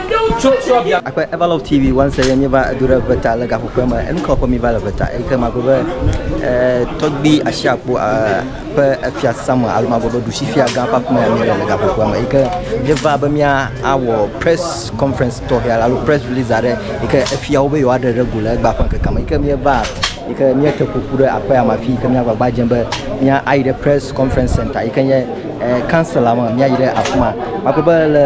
Akpe Eva Love TV wɔn se ye mi va edo ɖe veta le gaƒoƒe me enu kawo ƒe mi va le veta eyi ke magblɔ be eh, tɔgbi asi akpo eh, ƒe efia sama alo magblɔ be ɖusi fia gã ƒe aƒe me mi le le gaƒoƒe me eyi ke mi va be mia awɔ press conference tɔxɛ alo press release aɖe yi ke efiawo be yewoa ɖe ɖe go le egba ƒe ŋkeke me yi ke mi va yi ke mi te ƒoƒu ɖe aƒea me afi yi ke mi agbagba dze be mia ayi ɖe press conference center yi ke nye eh, kansela me míayi ɖe afi ma magbe be le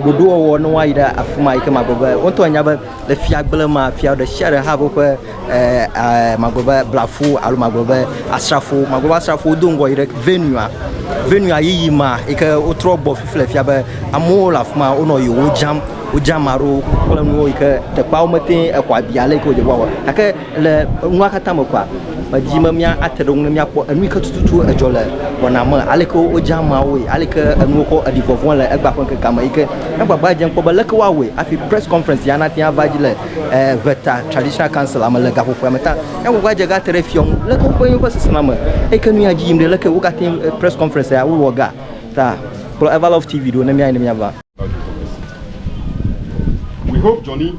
ɖoɖowɔwɔ ne woayi ɖe afi ma yi ke magbe be woŋtɔ anya be le fiagble ma fia ɖe sia ɖe hã woƒe eh, eh, magbe be blafu alo magbe be asrafo magbe be asrafo wodo ŋgɔ yi ɖe venua venua yiyi ma yi ke wotrɔ gbɔ fifle fia be amewo le afi ma wonɔ yewo dzam wodzam aro kple nuwo yi ke teƒeawo mete exɔ abi ale yi ke wodze wɔwɔ gake Le nua katã me kɔa, medi be mía ate ɖe ŋu ne míakpɔ enu yi ke tututu edzɔ le wɔna me, ale ke wodze ameawoe, ale ke enuwo kɔ ɖi vɔvɔ̃e le egbea ƒe ŋkekea me yi ke míagbagba dze kpɔ be leke woawɔe hafi Press Conference ya nate ŋu ava edzi le ŋɛta Traditional Council la me le gaƒoƒea me ta. Míagbagba dze ga te ɖe fiɔ ŋu leke woƒe yewo ƒe sesẽna me eyi ke nu ya dzi yim ɖe, leke wogate ŋu Press Conference ya wowɔ ga ta. Kplɔ Everlove TV ɖo ne míayi ne míava. We hope Johnny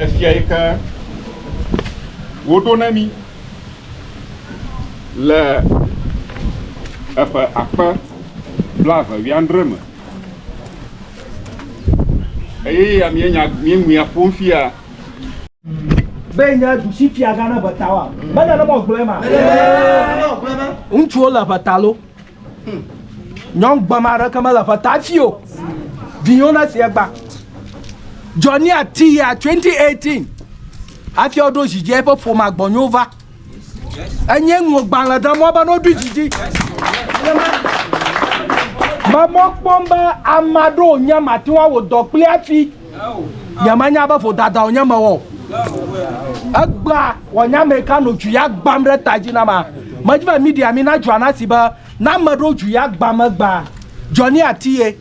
Efia yi ke woɖo na mí le eƒe akpe blaeve wuiadre me. Eye ya míenya míeŋui aƒo nu fia. Be nye dusifiagã naʋe ta oa? Menye ne mewɔ gblɔe ma? Ŋutsuwo le ʋe ta loo. Nyɔnu gbama aɖeke mele ƒe ta fi o. Vinyo na sia gba. Johnny ati ya 2018. Hafi woɖo zidzi eƒe ƒoma gbɔnyo va. Enye ŋlɔ gbalẽ ɖe mɔ be n'oɖo zidzi. Mɔ kpɔm be ama ɖo nya mati wa wò dɔ kple afi. Nyemenya be vodada wònye mewɔ o. Egbea wònye ame ka nɔ dzu ya gbãm ɖe ta dzi na ma. Medi be media mi nadzɔa na si be ne ame ɖewo dzu ya gbãm egbea, Johnny Atiyeh,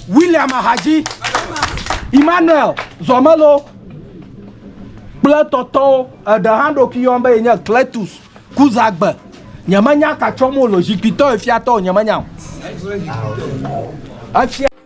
William Ahadzi, Emmanuel Zɔmelo kple etɔtɔwo. Eɖe hã eɖokui yɔm be yenye Cletus Kuzagbe. Nyemenya ka tsɔm wole o. Zikpuitɔ ye fiatɔ o, nyemenya o. Efia.